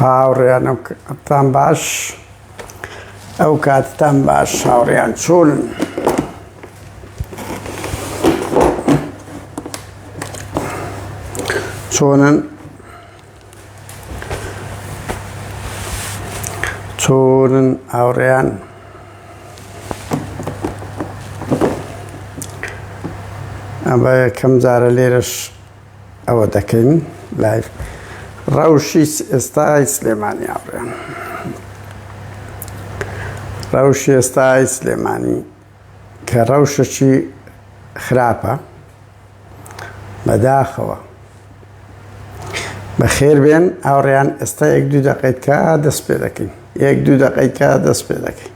هاوڕێیانم تان باش ئەو کاتتان باش هاوڕێیان چۆن چۆنن چۆنن هاوڕێیان ئەمە یەکەم جارە لێرەش ئەوە دەکەین لایڤ ڕەوشی ئێستای سلێمانی ئاڕێن ڕەوشی ئێستای سلێمانی کە ڕەوشەکی خراپە بەداخەوە بەخێر بێن ئاوڕیان ئێستا یەک دوو دەقیتکە دەست پێ دەکەین یەک دوو دەقیتکە دەست پێ دەکەین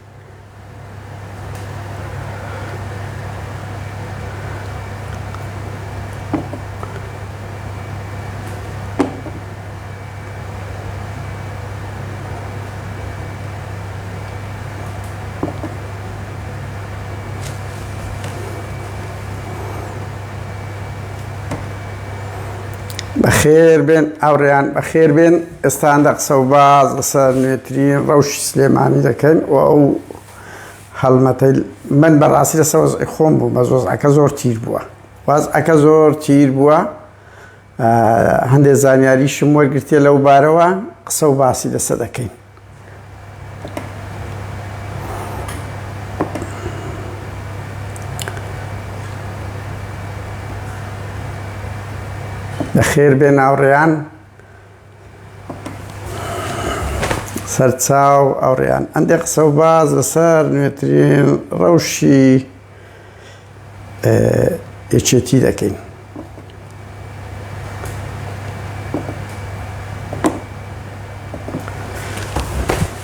بەخێربێن ئاوڕێیان بەخێربێن. ئێستا هەندە قسە و باز لەسەر نوێترین ڕەوشی سلێمانی دەکەن و ئەو هەڵمەتەی من بەڕاستی لە سەوز خۆم بوو بە زۆزعەکە زۆر تیر بووە واز ئەکە زۆر تیر بووە هەندێک زانیاریشم وەرگرتێ لەو بارەوە قسە و باسی لەسە دەکەین خێر بێ ناوڕێیان سەرچاو، ئەوڕیان هەندێک قسە و باس لەسەر نوێترین ڕەوشی یەکێتی دەکەین.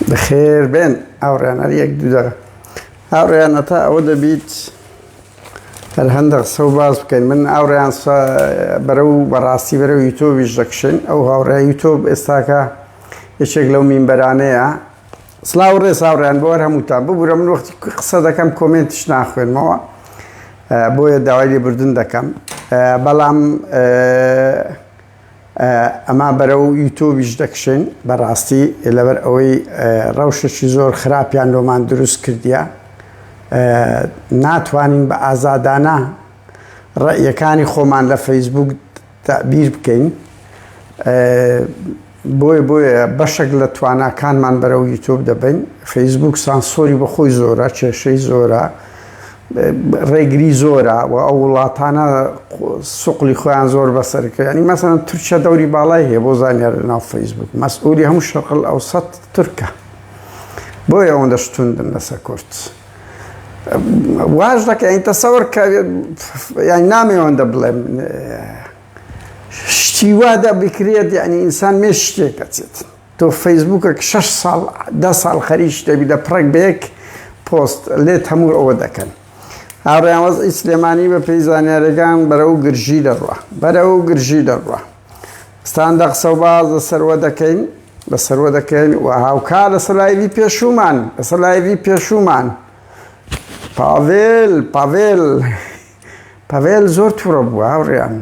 بەخێر بێن ئەوڕێنەر یەک دوو دەقە هاوڕێیان هەتا ئەوە دەبیت هەر هەندە قسە و باس بکەین من ئاوڕیان بەرە و بەڕاستی بەرە و یوتۆبیش دەکشێن ئەو هاوڕێ یوتۆب ئێستاکە یەکێک لەو مینبەرانەیە سلااو ڕێ ساوڕیان بۆەر هەمووتان ببوورە من وەختی قسە دەکەم کۆمنتش ناخوێنمەوە بۆیە داوای لێبوردن دەکەم بەڵام ئەما بەرەو یوتۆبیش دەکشێن بەڕاستی لەبەر ئەوەی ڕەوشەشی زۆر خراپیان لۆمان دروست کردیە ناتوانین بە ئازادانە ڕێیەکانی خۆمان لە فەیسبوک تابیر بکەین بۆیە بۆیە بەشێک لە تواناکانمان بەرەو یوتۆب دەبین فەیسبوک سانسۆری بەخۆی زۆرە کێشەی زۆرە ڕێگری زۆرە و ئەو وڵاتانە سوقلی خۆیان زۆر بەسەرکردنی مەسەن تورکیا دەوری باڵای هەیە بۆ زانیار ناو فەیسبوک مەسئولی هەموو شەقل ئەو سە تورکە بۆ ئەوەندە شتوندن لەسە کورت واش دەکە ئەین تەسەوەر کە یان نامێوەندە بڵێم شتیوا دە بکرێت یعنی ئینسان مێ شتێک دەچێت تۆ فەیسبوکەک شەش ساڵ دە ساڵ خەریک شتێک بی دەپڕێک بە یەک پۆست لێت هەموو ئەوە دەکەن هاوڕێیان وەزعی سلێمانی بە پێی زانیارەکان بەرەو گرژی دەڕوە بەرەو گرژی دەڕوە ستاندە قسە و باز لە سەروە دەکەین لە سەروە دەکەین و هاوکار لە سەلایوی پێشومان لە سەلایوی پێشومان پاڤێل پاڤێل پاڤێل زۆر توڕە بووە هاوڕێیان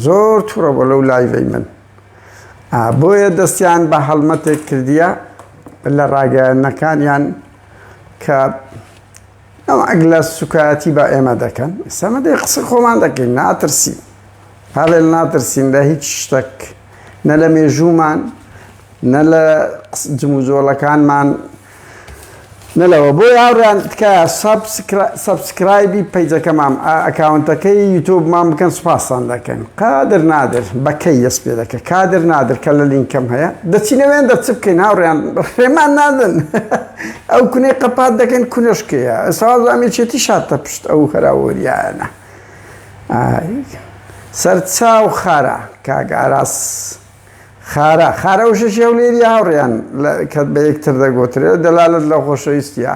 زۆر توڕە بووە لەو لایڤەی من بۆیە دەستیان بە هەڵمەتێک کردیە لە ڕاگەیانەکانیان کە ئەو ئەگ لە سوکایەتی بە ئێمە دەکەن سەمەدەی قسە خۆمان دەکەین ناترسی هەڵێن ناترسین لە هیچ شتێک نە لە مێژوومان نە لە جموزۆڵەکانمان نەلەوە بۆی هاوڕێیان تکایە سەبسکرایبی پەیجەکەمام ئەکاونتەکەی یوتوبمان بکەن سوپاستان دەکەن قادر نادر بەکەی دەست پێ دەکە کادر نادر کە لە لینکەم هەیە دەچینەوێن دەچ بکەین هاوڕێیان ڕێمان نادن ئەو کونەی قەپات دەکەن کونەشکەیە ساز ئەمێچێتی شاتە پشت ئەو هەراوەریانە سەرچاو خارە کاگاراس خارە، خارە وشە ژێولێرییە هاوڕێیان کە بە یەکتر دەگوترێت، دەلالەت لە خۆشەویستییە.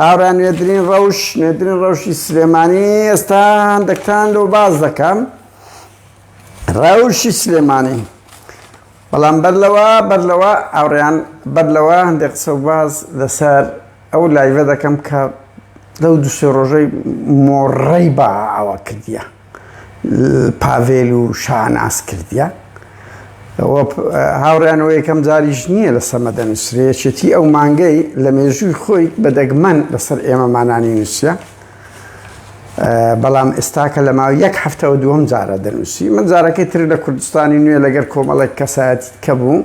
هاوڕێیان نوێترین ڕەوش، نوێترین ڕەوشی سلێمانی ئێستا هەندەکتان لۆ باس دەکەم. ڕەوشی سلێمانی. بەڵام بەر لەوە بەر لەوە هاوڕێیان بەر لەوە هەندێک قسە و باز لەسەر ئەو لایڤە دەکەم کە لەو دوو سێ ڕۆژەی مۆڕەی بە ئاوا کردیە. پاڤێل و شاناز کردیە هاوڕیانەوە یەکەم جاریش نییە لە سەمەدە نووسرەیەچێتی ئەو مانگەی لە مێژووی خۆی بە دەگمەن لەسەر ئێمە مانانی نووسە بەڵام ئێستاکە لە ماوە یەک هەفتەوە دووەم جارە دەنووسی من جارەکەی تر لە کوردستانی نوێ لەگەر کۆمەڵێک کەسایەت کە بوو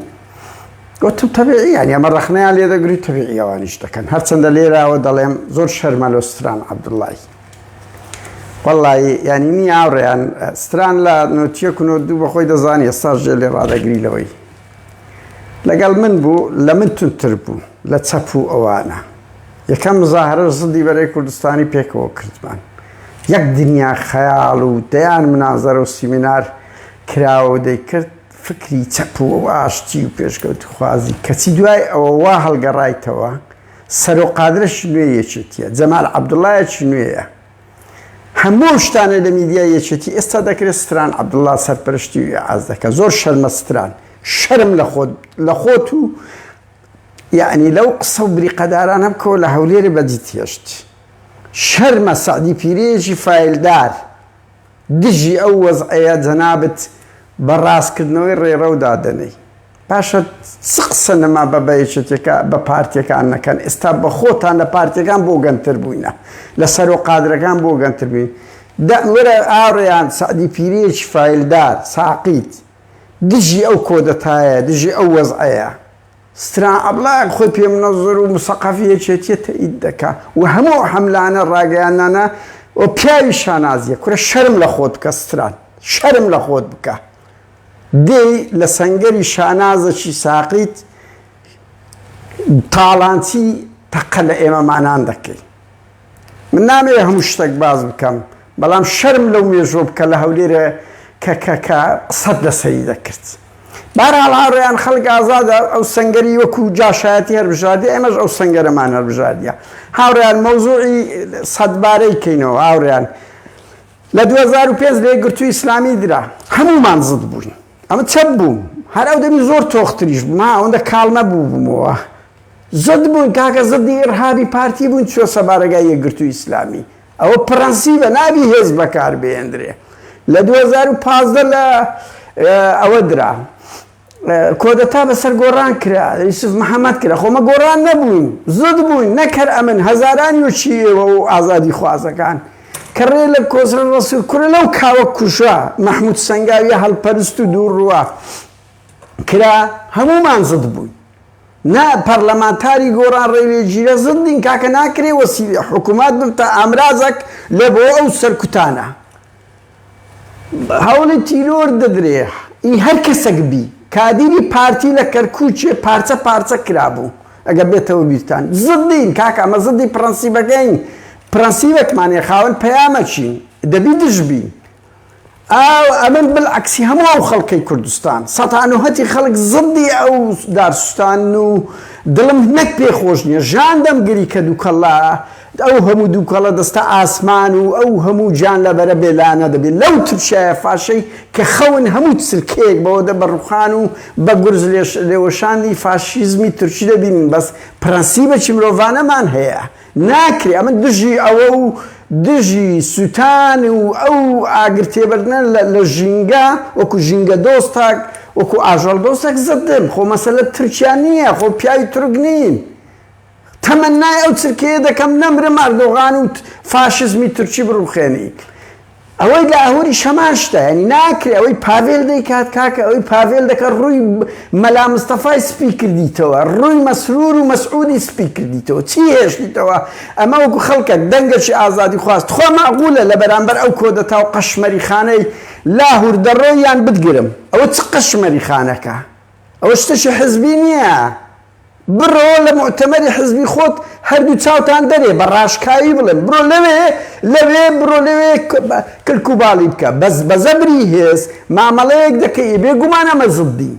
وتم تەبیعی یان ئەمە ڕەخنەیان لێ دەگری تەبیعیەوانیش دەکەن هەرچەندە لێراوە دەڵێم زۆر شەرمە لۆ ستران عەبدوڵڵاهی وەڵڵایی یانی نی ئاوڕێیان ستران لە نۆتیە کونۆ دوو بەخۆی دەزانی ئێستا ژێ لێ ڕادەگری لەوەی لەگەڵ من بوو لە من تونتر بوو لە چەپ و ئەوانە یەکەم مزاهرە زدی بەرەی کوردستانی پێکەوە کردمان یەک دنیا خەیاڵ و دەیان منازەرە و سیمینار کراوە دەیکرد فکری چەپ و ئاشتی و پێشکەوت خوازی کەچی دوای ئەوە وا هەڵگەڕایتەوە سەرۆ قادرەشی نوێی یەکێتیە جەمال عەبدوڵایەکی نوێیە هەموو ئەو شتانەی لە میدیای یەکێتی ئێستا دەکرێت ستران عەبدوڵا سەرپەرشتی و ئیعاز دەکە زۆر شەرمە ستران شەرم لە خۆت لە خۆت و یعنی لەو قسە و بریقەدارانە بکەوە لە هەولێری بەدیت هێشت شەرمە سەعدی پیرێژی فیلدار دژی ئەو وەزعەیە جەنابت بە ڕاستکردنەوەی ڕێڕەو دادەنێی باشە چ قسە نما بە بەیەکێتیەکە بە پارتیەکان نەکەن ئێستا بە خۆتان لە پارتیەکان بۆ گەنتر بووینە لە سەرۆ قادرەکان بۆ گەنتر بووین دە ورە ئاڕێیان سەعدی پیرێکی فایلدار ساقیت دژی ئەو کۆدەتایە دژی ئەو وەزعەیە. سترا ئەبڵاق خۆی پێ منەزر و مسەقەفی یەکێتیە تەئید دەکا و هەموو ئەو حەملانە ڕاگەیاندنانە و پیاوی شانازیە کورە شەرم لە خۆت بکە سترا شەرم لە خۆت بکە دێی لە سەنگەری شانازەکی ساقیت تاڵانچی تەقە لە ئێمەمانان دەکەی. من نامەوێ هەموو شتەک باس بکەم بەڵام شەرم لەو مێژوە بکە لە هەولێرە کە کە کە قسەت لەسەری دەکرد بارحاڵ هاوڕێیان خەڵک ئازادە ئەو سنگەری وەکو جاشایەتی هەربژاردی ئێمەش ئەو سنگەرەمان هەربژاردە هاوڕیان مەوزوعی سەدبارەی کەینەوە هاوریان لە 2005 لێ گرتو ئیسلامی درا هەمومان زد بووین ئەمە چەپ بووم هەر ئەو دەمی زۆر تۆختریش ما ئەوەندە کاڵ نەبوو بوومەوە زد بوون کاکە زدی ئیڕهابی پارتی بوون چۆسە بارەگای یەکگرتوی ئیسلامی ئەوە پڕەنسیبە نابی هێز بەکار بهێندرێ لە دوو هەزار و پازدە لە ئەوە درا کۆدەتا بەسەر گۆڕان کرا یوسف محەممەد کرا خۆمە گۆڕان نەبووین زود بووین نەکەر ئەمن هەزاران وچی ئێوە و ئازادی خوازەکان کە ڕێ لە کۆسرە ڕسوور کورە لەو کاوە کوشە مححمود سنگاویە هەڵپەرست و دوو ڕوە کرا هەمومان زد بووین نا پەرلەمانتاری گۆران ڕێوێ ژیرە زد بین کاکە ناکرێ وەسیلە حکومات بم تا ئامرازەک لە بۆ ئەو سەرکوتانە هەوڵی تیرۆر دەدرێ ئی هەر کەسەک بی کادیری پارتی لە کەرکوچێ پارچە پارچە کرابوو ئەگە بێتەوە بیرتان زد بین کاکە ئەمە زدی پرەنسیبەکەین پرەنسیبەکمانێ خاوەن پەیامەچین دەبی دژ بین ئاو ئەمن بل عەکسی هەموو ئەو خەڵکەی کوردستان سەتانوهەتی خەڵک زڕدی ئەو دارسوتانن و دڵم نەک پێ خۆش نیە ژان دەم گری کە دوکەڵە ئەو هەموو دوکەڵە دەستە ئاسمان و ئەو هەموو جان لەبەرە بێ لانە دەبی لەو ترشایە فاشەی کە خەون هەموو تسلکەیەک بەوە دە بە ڕوخان و بە گورز لێش لێوەشاندی فاشیزمی ترشی دەبینن بەس پرەنسیبەکی مرۆڤانەمان هەیە ناکرێ ئەمن دژی ئەوە و دژی سوتان و ئەو ئاگر تێبەردنە لە ژینگە وەکو ژینگە دۆستەک وەکو ئاژەڵ دۆستەک زد دێم خۆ مەسەلە ترکیا نیە خۆ پیاوی تورک نین تەمەنای ئەو چرکەیە دەکەم نەمرم ئەردۆغان و فاشزمی تورکی بڕوخێنی ئەوەی لاهوریش هەمان شتە یانی ناکرێ ئەوەی پاڤێل دەیکات کاکە ئەوەی پاڤێل دەکە ڕووی مەلا مستەفای سپی کردیتەوە ڕووی مەسرور و مەسعودی سپی کردیتەوە چی هێشتیتەوە ئەمە وەکو خەڵکە دەنگەکی ئازادی خواست تخوا مەعقولە لە بەرامبەر ئەو کۆدەتا و قەشمەریخانەی لاهور دەڕۆی یان بتگرم ئەوە چ قەشمەریخانەکە ئەوە شتەکی حزبی نییە بڕۆ لە موعتەمەری حزبی خۆت هەردوو چاوتان دەرێ بە ڕاشکاوی بڵێن بڕۆ لەوێ لەوێ بڕۆ لەوێ کلک و باڵی بکە بەس بە زەبری هێز مامەڵەیەک دەکەی بێ گومان ئەمە زدی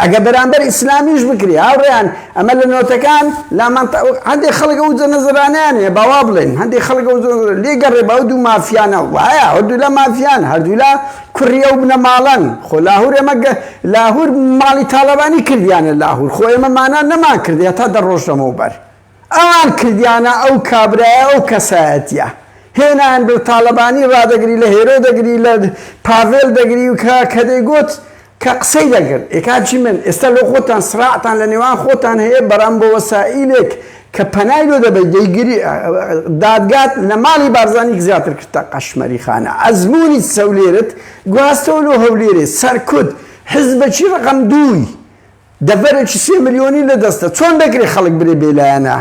ئەگە بەرامبەر ئیسلامیش بکری هاوڕێیان ئەمە لە نۆتەکان لامان هەندێک خەڵک ئەو جە نەزرانیان هەیە باوا بڵێن هەندێک خەڵک ئەو لێگەڕێ باو دوو مافیانە وایە هەردوولا مافیان هەردوولا کوڕی ئەو بنەماڵەن خۆ لاهور ئێمە گە لاهور ماڵی تاڵەبانی کردیانە لاهور خۆ ئێمە مانا نەمان کردی هەتا دە ڕۆژ لەمەو بەر ئەوان کردیانە ئەو کابرایە ئەو کەسایەتیە هێنایان بر تاڵەبانی ڕادەگری لە هێرۆ دەگری لە پاڤێل دەگری و کە کە دەیگوت کە قسەی دەگرن ئێکاچی من ئێستا لۆ خۆتان سراعتان لە نێوان خۆتان هەیە بەرام بۆ وەسائیلێک کە پەنای لۆ دەبەی دەیگری دادگات لە ماڵی بارزانیک زیاتر کردتە قەشمەری خانە ئەزموونی سەولێرت گواستەوە لۆ هەولێرێ سەرکوت حزبەکی ڕەقەم دووی دەڤەرێکی سێ ملیۆنی لە دەستە چۆن دەکرێ خەڵک برێ بێلایەنە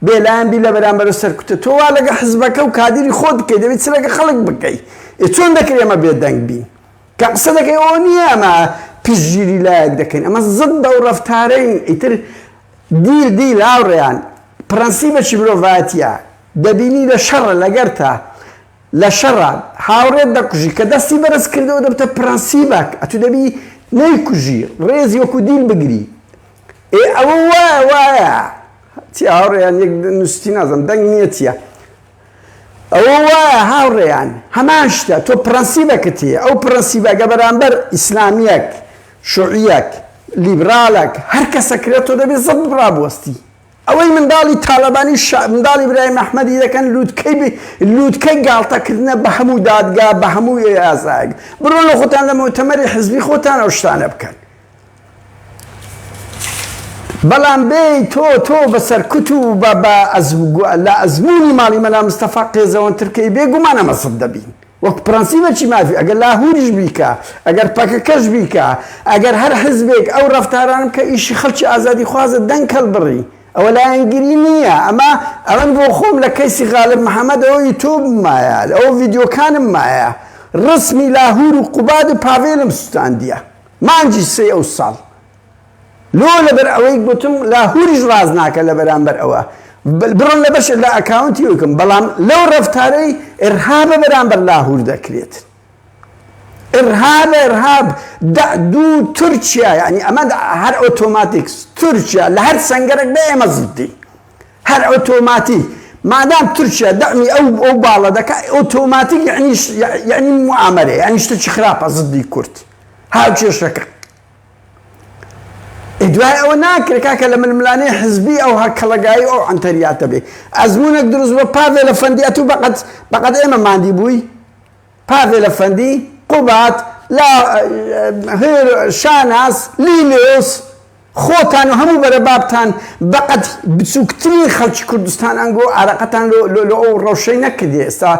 بێلایەن بی لە بەرامبەرە سەرکوتە تۆ وا لەگە حزبەکە و کادری خۆت بکەی دەبێت چ لەگە خەڵک بکەی ئێ چۆن دەکرێ ئەمە بێدەنگ بین کە قسە دەکەی ئەو نییە ئەمە پشتگیری لایەک دەکەین ئەمە زد بەو ڕفتارەین ئیتر دیل دیل هاوڕێیان پڕەنسیبەکی مرۆڤایەتیە دەبینی لە شەڕە لەگەرتە لە شەڕە هاوڕێت دەکوژی کە دەستی بەرز کردەوە دەبتە پڕەنسیبەک ئەتو دەبی نەیکوژی ڕێزی وەکو دیل بگری ئێ ئەوە وایە وایە چی هاوڕێیان یەک نوستی نازم دەنگ نیە چیە ئەوە وایە هاوڕێیان هەمان شتە تۆ پڕەنسیبەکت هەیە ئەو پڕەنسیبەگە بەرامبەر ئیسلامیەک شوعیەک لیبرالەک هەر کەسە کرێ تۆ دەبێ زەبت ڕابوەستی ئەوەی منداڵی تالەبانی شا منداڵی برایم ئەحمەدی دەکەن لوتکەی بی لوتکەی گاڵتە کردنە بە هەموو دادگا بە هەموو ئێ ئازایەک برۆن لە خۆتان لە مۆتەمەری حزبی خۆتان ئەو شتانە بکەن بەڵام بێی تۆ تۆ بە سەرکوت و بە بە لە ئەزموونی ماڵی مەلا مستەفا قێزەوەنتر کەی بێ گومان ئەمە سەد دەبین وەک پرەنسیبەکی مافی ئەگەر لاهوریش بیکا ئەگەر پەکەکەش بیکا ئەگەر هەر حزبێک ئەو ڕەفتارانە بکە ئیشی خەڵکی ئازادی خوازە دەنگ هەڵبڕی ئەوە لایەنگری نییە ئەمە ئەمن بۆ خۆم لە کەیسی غالب محەمەدەوە یوتوبم مایە ئەو ڤیدیۆکانم مایە ڕەسمی لاهور و قوباد و پاڤێلم سوتاندیە مانگی سێی ئەو ساڵ لۆ لەبەر ئەوەی گۆتم لاهوریش ڕاست ناکە لە بەرامبەر ئەوە بڕۆن لە بەشێک لە ئەکاونتی وکم بەڵام لەو ڕەفتارەی ئرهابە بەرامبەر لاهور دەکرێت ئرهاب ئرهاب دە دوو تورکیا یعنی ئەمە هەر ئۆتۆماتیکس تورکیا لە هەر سنگەرەک بە ئێمە زدی هەر ئۆتۆماتی مادام تورکیا دەمی ئەو ئەو باڵە دەکە ئۆتۆماتیک یعنی یعنی معامەرە یعنی شتێکی خراپە زدی کورد هاوکێشەکە ئەی دوای ئەوە ناکرێ کاکە لە ململانێ حزبی ئەو هەکەڵەگایی ئەو عەنتەریاتە بێ ئەزمونێک دروست بە پاڤێ لە فەندی ئەتوو بەقەت بەقەت ئێمە ماندی بووی پاڤێ لە فەندی قوبات لا هێر شاناس لیلۆس خۆتان و هەموو بەرە بابتان بەقەد بچوکترین خەڵکی کوردستان ئەنگۆ ئارەقەتان لۆ لۆ لۆ ئەو ڕەوشەی نەکردیە ئێستا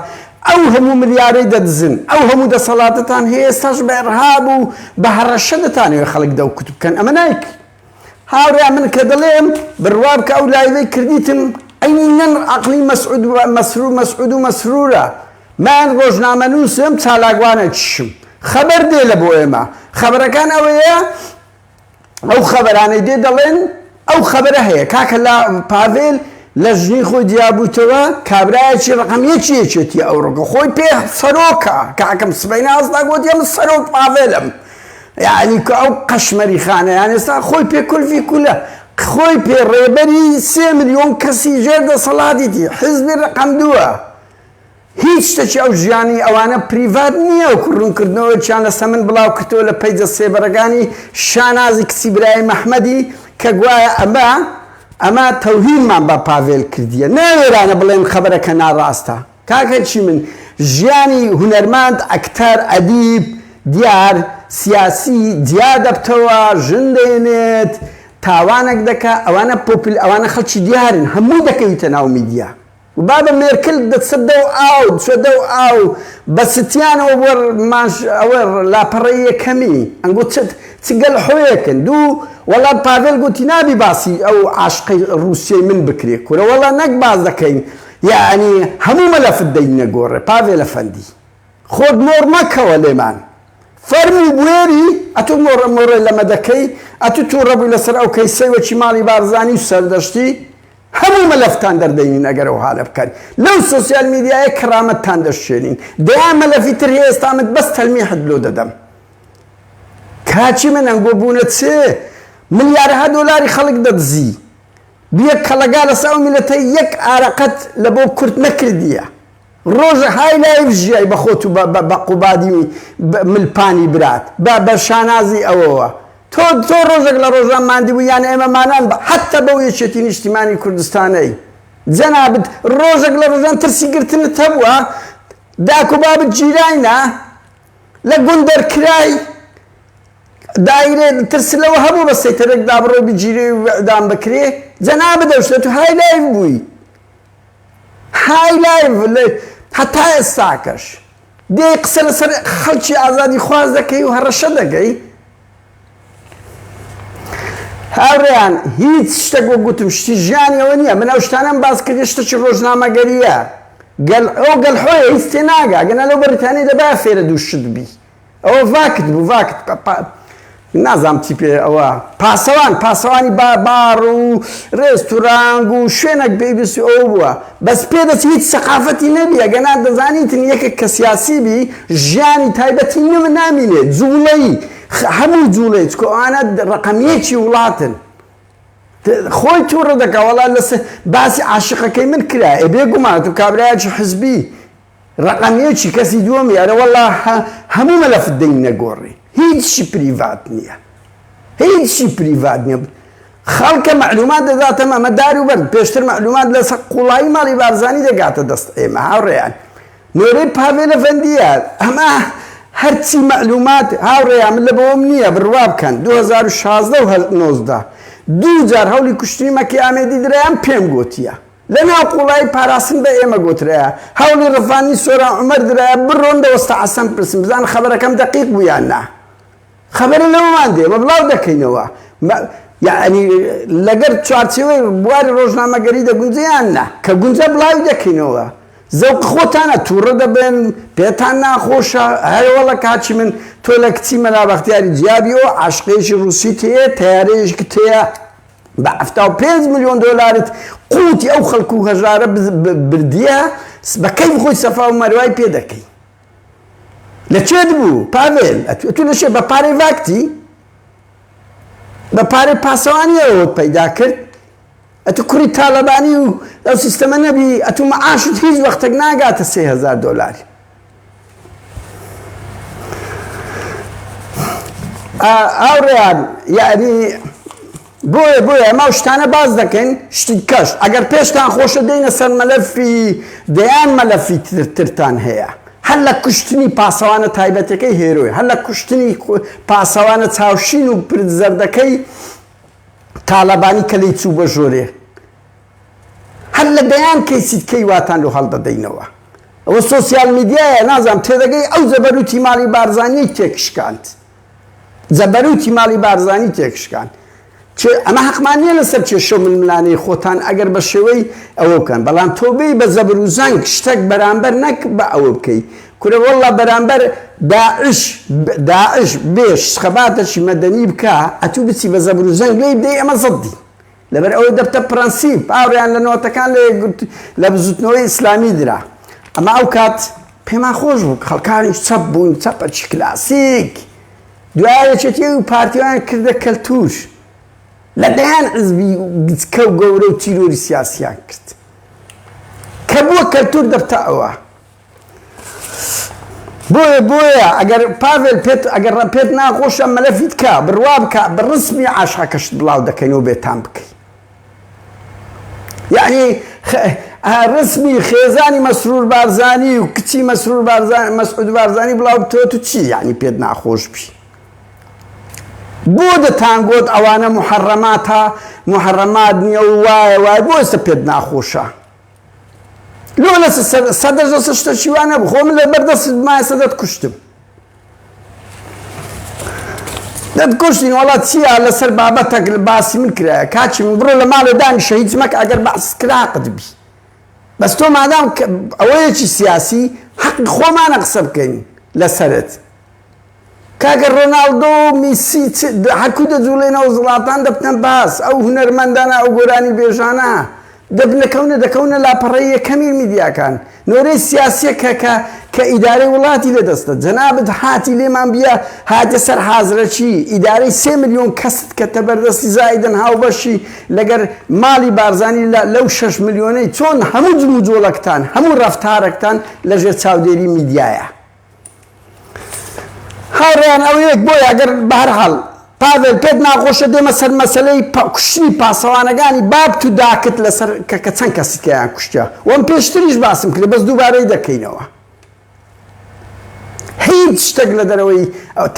ئەو هەموو ملیارەی دەدزن ئەو هەموو دەسەڵاتەتان هەیە ئێستاش بە ئڕهاب و بە هەڕەشە دەتانەوێ خەڵک دەو کوت بکەن ئەمە نایک هاوڕێ من کە دەڵێم بڕوا بکە ئەو لایڤەی کردیتم عینەن عقلی مەسعود و مەسرور مەسعود و مەسرورە من ڕۆژنامە نووسم چالاکوانە چشم خەبەر دێ لە بۆ ئێمە خەبەرەکان ئەوەیە ئەو خەبەرانەی دێ دەڵێن ئەو خەبەرە هەیە کاکە لا پاڤێل لە ژنی خۆی جیابووتەوە کابرایەکی ڕقم یەکی یەکێتی ئەو ڕقە خۆی پێ سەرۆکە کاکەم سبەی نازدا گوت یەم سەرۆک پاڤێلم یعنی کە ئەو قەشمەری خانە یان ئێستا خۆی پێ کولفی کولە خۆی پێ ڕێبەری سێ ملیۆن کەسی ژێر دەسەڵاتیتی حزبی ڕقم دووە هیچ شتەکی ئەو ژیانی ئەوانە پریڤات نییە وەکو روونکردنەوەیەکیان لە سەمن بڵاوکردەوە لە پەیجە سێبەرەکانی شانازی کچی برایم ئەحمەدی کە گوایە ئەمە ئەمە تەوهینمان بە پاڤێل کردییە نا وێرانە بڵێن خەبەرەکە ناراستە کاکەکی من ژیانی هونەرماند ئەکتەر ئەدیب دیار سیاسی جیا دەبتەوە ژن دێنێت تاوانەک دەکا ئەوانە پۆپل ئەوانە خەڵکی دیارن هەمووی دەکەویتە ناو میدیا. بابە مێرکل دەچە دەو ئاو دچە دەو ئاو بە چتیانەوە بۆ ماش ئەوە لاپەڕەی یەکەمی ئەنگۆ چت چ گەل حۆیەکن دوو وەڵا پاڤێل گۆتی نابی باسی ئەو عاشقەی ڕوسیەی من بکرێ کورە وەڵا نەک باس دەکەین یەعنی هەموو مەلەفت دەینە گۆڕێ پاڤێل ئەفەندی خۆت مۆڕ مەکەوە لێمان فەرموو بوێری ئەتوو مۆڕە مۆڕێ لەمە دەکەی ئەتوو توڕەبووی لەسەر ئەو کەیسەی وەکی ماڵی بارزانی و سەردەشتی هەموو مەلەفتان دەردەینین ئەگەر ئەوهالە بکەن لەو سۆسیال میدیایە کەرامەتتان دەشکێنین دەیان مەلەفی تر هەیە ئێستا من بەس تەلمیحت لۆ دەدەم کاچی من ئەنگۆ بوونە چێ ملیارها دۆلاری خەڵک دەدزی بیە کەڵەگا لەسا ئەو میلەتە یەک ئارەقەت لە بۆ کورد نەکردیە ڕۆژە های لایڤ ژیای بە خۆت و بە بە قوبادی و مل پانی برات بە بە شانازی ئەوەوە تۆ تۆ ڕۆژەک لە ڕۆژان ماندی بوو یان ئێمە مانان بە حەتە بەو یەکێتی نیشتیمانی کوردستانەی جەنابت ڕۆژەک لە ڕۆژان ترسی گرتنت هەبووە داک و بابت گیراینە لە گوند دەرکرای دایرێ ترس لەوە هەبوو بە سەیتەرێک دابڕۆی بگیری و ئیعدام بکرێ جەنابت ئەو شتە تۆ های لایڤ بووی های لایڤ لە هەتا ئێستاکەش دێی قسە لەسەر خەڵکی ئازادی خواز دەکەی و هەڕەشە دەکەی هاوڕێیان هیچ شتێک وە گوتم شتی ژیانی ئەوە نییە من ئەو شتانم باس کردی شتەکی ڕۆژنامەگەریە گەل ئەو گەل حۆیە هیچ تێناگا گەنا لەو بەریتانی دەبا فێرە دوو شت بی ئەوە ڤاکت بوو ڤاکت پە پە نازام چی پێ ئەوە پاسەوان پاسەوانی با باڕ و ڕێستورانگ و شوێنەک پێویستی ئەو بووە بەس پێ دەچی هیچ سەقافەتی نەبی ئەگەنا دەزانیتن یەکێک کە سیاسی بی ژیانی تایبەتی نم نامینێ جوڵەی هەموو جوڵەی چکۆ ئەوانە ڕقم یەکی وڵاتن خۆی تووڕە دەکە وەڵا لەسەر باسی عاشقەکەی من کرا ئێ بێ گومان تو کابرایەکی حزبی ڕەقەم یەکی کەسی دووەمی ئەرە وەڵا هەموو مەلەفت دەین نەگۆڕی هیچی پریڤات نیە هیچی پریڤات نیە خەڵکە مەعلومات دەداتەمە ئەمە دار و بەرد پێشتر مەعلومات لەسەر قوڵایی ماڵی بارزانی دەگاتە دەست ئێمە هاوڕێیان نۆرەی پاڤێلە فەندیە ئەمە هەرچی مەعلومات هاوڕێیان من لە بەوەم نییە بڕوا بکەن 2016 و 19 دوو جار هەولی کوشتنی مەکی ئامێدی درایان پێم گوتیە لە ناو قوڵایی پاراستن بە ئێمە گۆترایە هەوڵی ڕفاندنی سۆران عومەر درایە، بڕۆن لە وەستا حەسەن بپرسن بزانن خەبەرەکەم دەقیق بوو یان نا. خەبەرە لەوەمان دێ ئێمە بڵاو دەکەینەوە. یەعنی لەگەر چوارچێوەی بواری ڕۆژنامەگەری دەگونجێ یان نا؟ کە گونجا بڵاوی دەکەینەوە. زەوقی خۆتانە تووڕە دەبن، پێتان ناخۆشە. هەی وەڵە کاکی من تۆ لە کچی مەلا بەختیاری جیابی ئەو عاشقەیەکی ڕووسیت هەیە تەیارەیەکت هەیە بە حەفتا و پێنج ملیۆن دۆلارت قوتی ئەو خەڵک و هەژارە بردیە بە کەیف خۆی سەفا و مەروای پێ دەکەی لە چێت بوو پاڤێل ئەتو لە شێ بە پارەی ڤاکتی بە پارەی پاسەوانیەوەت پەیدا کرد ئەتو کوڕی تاالبانی و ئەو سیستەمە نەبی ئەتو مەعاشت هیچ وەختێک ناگاتە سێهزار دۆلاری ئاوڕیان یعنی بۆیە بۆیە ئەمە شتانە باز دەکەین شتی کەش ئەگەر پێشتان خۆشە دێنە سەر مەلەفی دەیان مەلەفی ترتان هەیە هەر لە کوشتنی پاسەوانە تایبەتەکەی هێرۆی هەر لە کوشتنی پاسەوانە چاوشین و پرد زەردەکەی تاالبانی کە لی چوو بە ژۆرێ هەر لە دەیان کەیسی دکەی واتان لۆ هەڵدەدەینەوە. ئەوە سۆسیال میدیایە نازانم تێدەگەی ئەو زەبەروتی ماڵی بارزانیەی تێکشکاند. زەبەروتی ماڵی بارزانی تێکشکاند. کێ ئەمە هەقمان نیە لەسەر کێشە و ململانێی خۆتان ئەگەر بە شێوەی ئەوە بکەن بەڵام تۆ بێی بە زەبر و زەنگ شتەک بەرامبەر نەک بە ئەوە بکەی کورە وەڵا بەرامبەر داعش داعش بێش خەباتەکی مەدەنی بکا ئەتوو بچی بە زەبر و زەنگ لێی بدەی ئەمە زەدی لەبەر ئەوەی دەبتە پرەنسیپ، باوریان لە نۆتەکان لە یەکگرت لە بزوتنەوەی ئیسلامی درا. ئەمە ئەو کات پێمان خۆش بوو، خەڵکانیش چەپ بوون، چەپەکی کلاسیک. دوایە یەکێتی و پارتییان کردە کەلتور. لە دەیان حزبی گچکە و گەورە و تیرۆری سیاسییان کرد. کە بووە کەلتور دەبتە ئەوە. بۆیە بۆیە ئەگەر پاڤێل پێت ئەگەر ڕە پێت ناخۆشە مەلەفی تکا بڕوا بکە بە ڕسمی عاشقەکەشت بڵاو دەکەین و بێتام بکەی یعنی خ ئە ڕسمی خێزانی مەسرور بارزانی و کچی مەسرور بارزان مەسعود بارزانی بڵاو بتەوە تو چی یعنی پێت ناخۆش بی بۆ دەتانگۆت ئەوانە محەڕەماتە محەڕەمات نییە و وایە وای بۆ ئێستا پێت ناخۆشە لۆ لە سەدە زۆ شتە شیوانە بخۆ من لە بەردەست مایە سەدەت کوشتم دەت کوشتین وڵا چییە لەسەر بابەتەک لە باسی من کرایە کاچی من بڕۆ لە ماڵێ دانی شەهیت مەک ئەگەر بەس کراقت بی بەس تۆ مادام ئەوەیەکی سیاسی حەق خۆمانە قسە بکەین لەسەرت کاکە ڕۆناڵدۆ و میسی چ حەکوو دەجووڵێنەوە زڵاتان دەبتە باس ئەو هونەرمەندانە ئەو گۆرانی بێژانە دەبنە کەونە دەکەونە لاپەڕەی یەکەمی میدیاکان نۆرەی سیاسیە کە کە کە ئیدارەی وڵاتی لە دەستە جەنابت هاتی لێمان بیە هاتە سەر حازرەکی ئیدارەی سێ ملیۆن کەست کە تەبەردەستی زائیدن هاوبەشی لەگەر ماڵی بارزانی لە لەو شەش ملیۆنەی چۆن هەموو جموجۆڵەکتان هەموو ڕەفتارەکتان لەژێر چاودێری میدیایە. هاوڕێیان ئەوە یەک بۆیە ئەگەر بەهەرحاڵ پاڤێل پێت ناخۆشە دێمە سەر مەسەلەی کوشتنی پاسەوانەگانی بابت و داکت لەسەر کە کە چەند کەسی تیایان کوشتیا وەم پێشتریش باسم کرد بەس دووبارەی دەکەینەوە هیچ شتێک لە دەرەوەی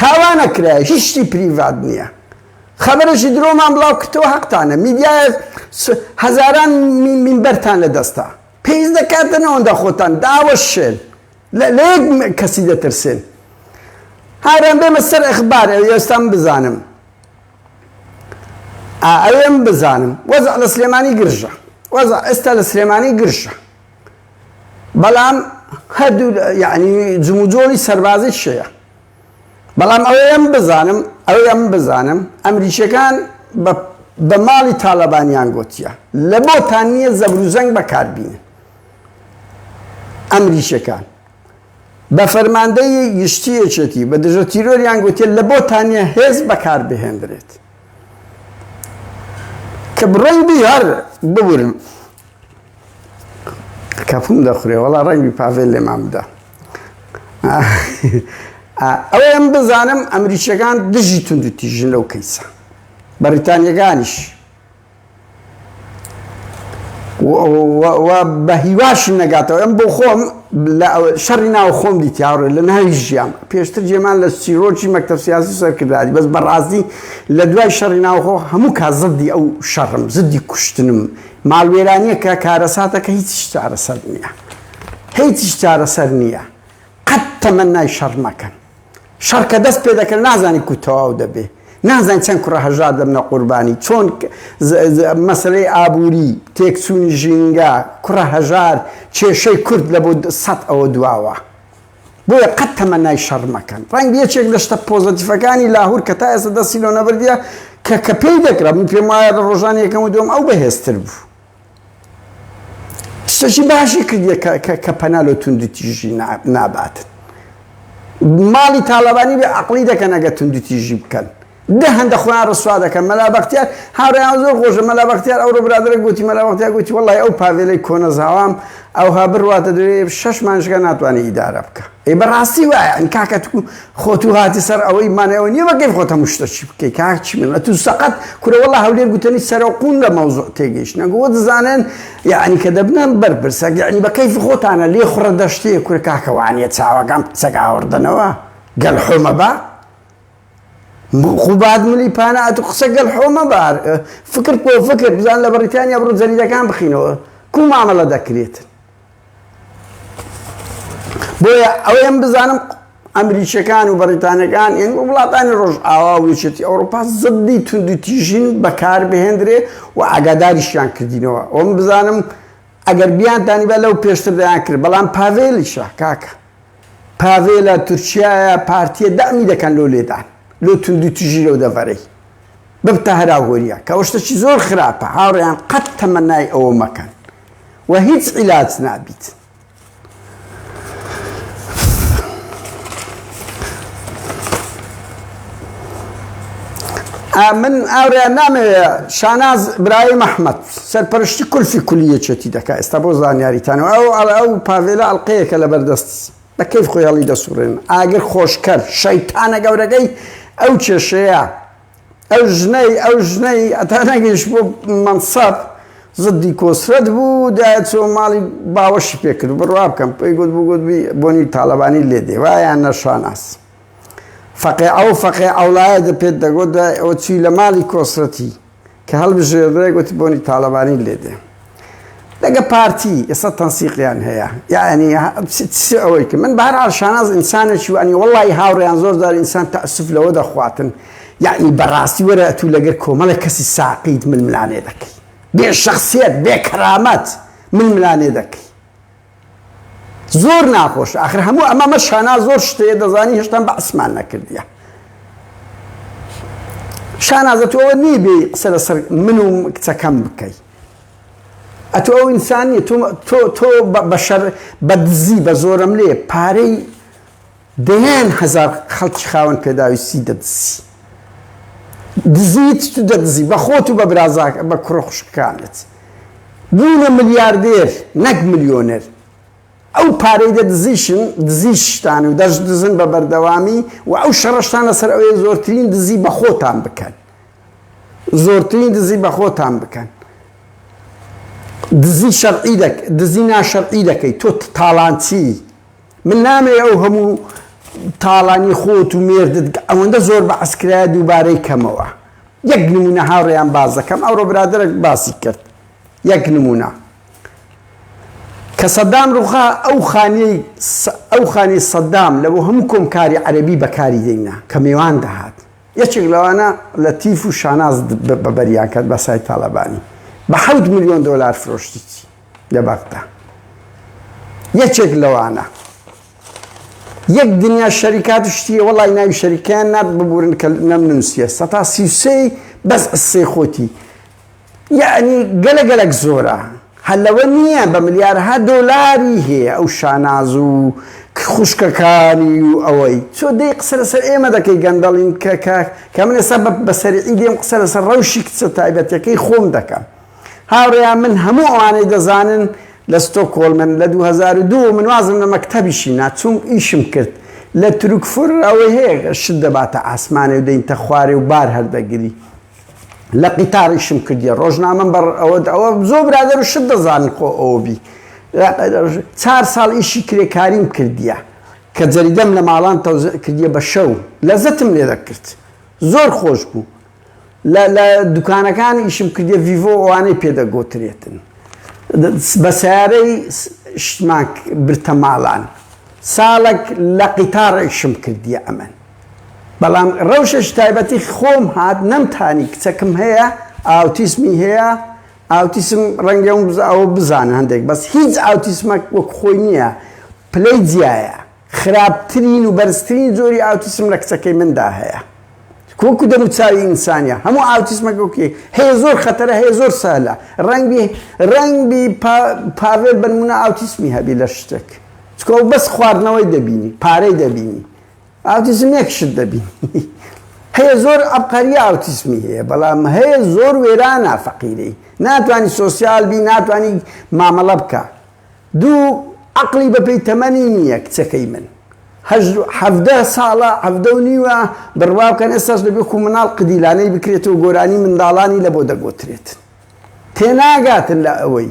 تاوانە کرای هیچی پریڤات نییە خەبەرێکی درۆمان بڵاو کردەوە حەقتانە میدیایە هەزاران مینبەرتان لە دەستا پێویست دەکاتن ئەوەندە خۆتان داوەشێن لە یەک کەسی دەترسێن. ئارام بێمە سەر ئەخبار ئەوێ ئێستام بزانم ئا ئەوێم بزانم وەزع لە سلێمانی گرژە وەزع ئێستا لە سلێمانی گرژە بەڵام هەردوو یعنی جموجۆڵی سەربازی شەیە بەڵام ئەوەیەم بزانم ئەوەیەم بزانم ئەمریکیەکان بە ماڵی تاالبانیان گوتیە لە بۆتان نییە زەبروزەنگ بەکاربیین ئەمریکیەکان بە فەرماندەی گشتی یەکێتی بە دژە تیرۆریان گوتێت لە بۆ تانە هێز بەکار بهێندرێت کە بڕۆین بی هەر ببورن کەپوم دەخورێ وەڵا ڕەنگی پاڤێل لێمان بدە ئەوە ئەم بزانم ئەمریکیەکان دژی تونند و تیژن لەو کەیسە بەریتانیەکانیش و بە هیواشی نەگاتەوە. ئەم بۆ خۆم لە شەڕی ناو خۆم دیت یاڕێ لە ناوی ژیام. پێشتر جێمان لە چیرۆکی مەکتەب سیاسی سەرکردایەتی، بەس بە ڕاستی لە دوای شەڕی ناوخۆ هەموو کات زدی ئەو شەڕم، زدی کوشتنم. ماڵوێرانییەکە کارەساتە کە هیچیش چارەسەر نییە. هیچیش چارەسەر نییە. قەت تەمەنای شەڕ مەکەن. شەڕ کە دەست پێ دەکەن نازانی کو تەواو دەبێ نازانین چەند کوڕە هەژار دەبنە قوربانی چۆن مەسلەی ئابووری تێکچوونی ژینگە کوڕە هەژار کێشەی کورد لە بۆ سەد ئەوە دواوە بۆیە قەت تەمەنای شەڕ مەکەن ڕەنگ یەکێک لە شتە پۆزەتیفەکانی لاهور کە تا ئێستا دەستی لۆ نەبردە کە کە پێی دەکرا من پێم وایە لە ڕۆژانی یەکەم و دوم ئەو بەهێزتر بوو شتەکی باشی کردیە کە پەنا لۆ توندوتیژی ناباتن ماڵی تاالبانی بێ عقلی دەکەن ئەگە توندوتیژی بکەن دە هەندە خۆیان ڕسوا دەکەن مەلا بەختیار هاوریان زۆر خۆشە مەلا بەختیار ئەو ڕۆبرادرە گوتی مەلا بەختیا گوتی وڵی ئەو پاوێلەی کۆنەزاوام ئەوها بڕاتە دوێ شش مانشگە ناتوانانی ئیدارە بکە ئەی بەڕاستی وایە ئەن کاکەتکو خۆ تو هاتی سەر ئەوەی مانای ئەوە نیە بەکەیف خۆت هەموو شتەکی بکەی کاک چیمەن ئەتو سەقەت کورە وەڵا هەولێر گوتەنی سەرەو قون لە مەوزوع تێگەیشتنە گووە دزانن یەعنی کە دەبنە بەرپرسە یەعنی بە کەیف خۆتانە لێ خوڕە دەشتیە کورە کاکە وانیە چاوەکان سەگ ئاوڕدەنەوە گەل حۆمە بە خوبات ملی پانە ئەتو قسە گەل حۆمە بار فکر پۆ فکر بزان لە بەڕیتانیا بڕۆ جەریدەکان بخینەوە کو مامەڵە دەکرێت بۆیە ئەوەیەم بزانم ئەمریکیەکان و بەریتانەکان یان وڵاتانی ڕۆژئاوا و یەکێتی ئەوروپا زدی توندتیژین بەکار بهێندرێ و ئاگاداریشیان کردینەوە ئەوم بزانم ئەگەر بیان دانیبا لەو پێشتر دەیان کرد بەڵام پاڤێلیشە کاکە پاڤێلە تورکایە پارتیە دامی دەکەن لۆ لێدان لۆ توندی تژی لەو دەڤەرەی ببتە هەراوهۆریە کەەوەشتەکی زۆر خراپە هاوڕیان قەت تەمەنای ئەوە مەکەن و هیچ عیلاج نابیت. من ئاوریا نامەوێ شاناز برای مححمد سەرپەرشتی کولفی کولی یەکێتی دەکات ئێستا بۆ زانیاریتانەوە ئەو ئەڵە ئەو پاڤێلە ئەڵلقەیەکە لە بەردەست بەکەی خۆیاڵی دەسوڕێن ئاگر خۆشکەر شەیتانە گەورەکەی ئەو کێشەیە ئەو ژنەی ئەو ژنەی هەتا نەگەیشت بۆ مەنسەب زدی کۆسرەت بوو دایە چۆ ماڵی باوەشی پێکرد بڕوا بکەم پێی گوت بگوت بۆنی تاالبانی لێ دێ وایان نەشاناس فەقێ ئەو فەقێ ئەوڵایە دە پێت دەگوت دوای ئەوە چوی لە ماڵی کۆسرەتی کە هەڵبژێردرای گۆتی بۆنی تاڵەبانی لێ دێ لەگە پارتی ئێستا تەنسیقیان هەیە یعنی ئەوەی کە من بەهرال شاناز ئینسانێکی وانی وڵی هاوڕێیان زۆر زار ئینسان تەسف لەوە دەخواتن یعنی بەڕاستی وەرە ئەتو لەگەر کۆمەڵە کەسی ساقیت من ملانێ دەکەی بێ شخصیت بێ کەرامەت من ملانێ دەکەی زۆر ناخۆش ئاخر هەموو ئەمە مە شانا زۆر شتەیە دەزانی هێشتان بە عسمان نەکردە شانازە تۆ ئەوە نی بێ قسە لەسەر من و کچەکەم بکەی ئەتۆ ئەو ئینسانی تۆ تۆ بەشەر بە دزی بە زۆرم لێ پارەی دەیان هەزار خەڵکی خاوەن پێداویستی دەدزی دزیت تو دەدزی بە خۆت و بە برازاکە بە کوڕە خوشکەکانت بوونە ملیاردێر نەک ملیۆنێر ئەو پارەی دەدزیشن دزیشتان و دەش دزن بە بەردەوامی و ئەو شەڕشتان لەسەر ئەوەیە زۆرترین دزی بە خۆتان بکەن زۆرترین دزی بە خۆتان بکەن دزی شەرعی دەک دزی ناشەرعی دەکەیت تۆ تاڵانچی من نامەوێ ئەو هەموو تاڵانی خۆت و مێردت کە ئەوەندە زۆر بەعس کرایە دووبارەی کەمەوە. یەک نموونە هاوڕێیان باس دەکەم، ئەوڕۆ برادەرێک باسی کرد یەک نموونە. کە سەدام ڕووخا ئەو خانیەی ئەو خانەی سەدام لە بۆ هەموو کۆمکاری عەرەبی بەکاری دێنا کە مێوان دەهات. یەکێک لەوانە لەتیف و شاناز بەبەریان کرد بە سای تاڵەبانی. بە حەوت ملیۆن دۆلار فرۆشتیی. لە بەغدا یەکێک لەوانە یەک دنیا شەریکات و شتیە وەڵی ناوی شەریکیان نات ببورن کە نەم نووسە سەتا سی و سێی بەس قسەی خۆتی یعنی گەلە گەلک زۆرە هەلەوە نییە بە ملیارها دۆلاری هەیە ئەو شاناز و خوشکەکانی و ئەوەی چۆ دەی قسە لەسەر ئێمە دەکەی گەندەڵین کە کە من ئێستا بەسەری دێم قسە لەسەر ڕەوشی کچە تایبەتەکەی خۆم دەکەم هاوڕێیان من هەموو ئەوانەی دەزانن لە ستۆکۆلمن لە دوو هەزار و دوو من وازم لە مەکتەبیشی نا چووم ئیشم کرد لە تروکفر ئەوەی هەیە شت دەباتە ئاسمانێ و دەینتە خوارێ و بار هەردەگری لە قیتار ئیشم کردیە ڕۆژنامەم بەڕ ئەوە ئەوە زۆر برادەر و شت دەزانن خۆ ئەوە بی چار ساڵ ئیشی کرێکاریم کردیە کە جەریدەم لە ماڵان تەوزع کردیە بە شەو لەزەتم لێ دەکرد زۆر خۆش بوو لە لە دوکانەکان ئیشم کردیە ڤیڤۆ ئەوانەی پێ دەگۆترێتن بە سیارەی شتمان برتە ماڵان ساڵک لە قیتاڕ ئیشم کردیە ئەمن بەڵام ڕەوشەش تایبەتی خۆم هات نەمتانی کچەکم هەیە ئاوتیسمی هەیە ئاوتیسم ڕەنگە ئەوم ئەوە بزانە هەندێک بەس هیچ ئاوتیسمەک وەک خۆی نییە پلەی جیایە خراپترین و بەرزترین جۆری ئاوتیسم لە کچەکەی مندا هەیە کە وەکو دەموچاوی ئینسانیە هەموو ئاوتیسمەکە وەکی هەیە زۆر خەتەرە هەیە زۆر سەهلە ڕەنگبی ڕەنگبی پاڤێل بەنمونە ئاوتیسمی هەبی لە شتێک چکۆ بەس خواردنەوەی دەبینی پارەی دەبینی ئاوتیسم یەک شت دەبینی هەیە زۆر ئەبقەری ئاوتیسمی هەیە بەڵام هەیە زۆر وێرانە فەقیرەی ناتوانانی سۆسیال بی ناتوانانی مامەڵە بکە دوو عەقڵی بە پێی تەمەنی نییە کچەکەی من هەژدە حەڤدە ساڵە حەڤدە و نیوە بڕوا بکەن ئێستاش دەبێ کو مناڵ قدیلانەی بکرێتەوە گۆرانی منداڵانی لە بۆ دەگۆترێت تێناگاتن لە ئەوەی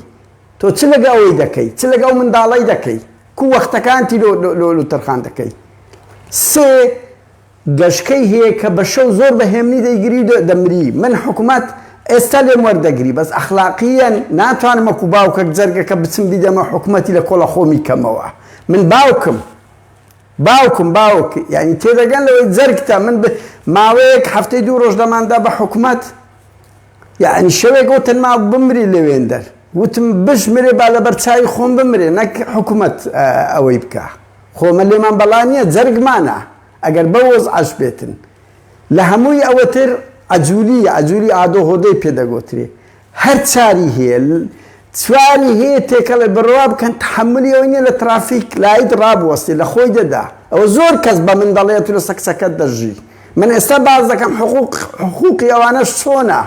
تۆ چ لەگە ئەوەی دەکەی چ لەگە ئەو منداڵەی دەکەی کو وەختەکانتی لۆ لۆ لۆ تەرخان دەکەی سێ گەشکەی هەیە کە بە شەو زۆر بە هێمنی دەیگری و دەمری من حکومەت ئێستا لێم وەردەگری بەس ئەخلاقیەن ناتوانم وەکو باوکەک جەرگەکە بچم بیدەمە حکومەتی لە کۆڵە خۆمی کەمەوە من باوکم باوکم باوک یانی تێدەگەن لەوەی جەرگتە من ماوەیەک هەفتەی دوو ڕۆژ دەماندا بە حکومەت یەعنی شەوێک وتن ماو بمری لەوێندەر وتم بشمرێ با لەبەر چاوی خۆم بمرێ نەک حکومەت ئەوەی بکا خۆ ئمە لێمان بەڵا نیە جەرگمانە ئەگەر بەو وەزعەش بێتن لە هەمووی ئەوەتر عەجولی عەجولی ئادۆ هۆدەی پێ دەگۆترێ هەر چاری هەیە چواری هەیە تێکەڵێ بڕوا بکەن تحملی ئەوەی نیە لە ترافیک لایت ڕابوەستێ لە خۆی دەدا ئەوە زۆر کەس بە من دەڵێ تو لە سەکسەکەت دەژی من ئێستا باس دەکەم حقوق حقوقی ئەوانەش چۆنە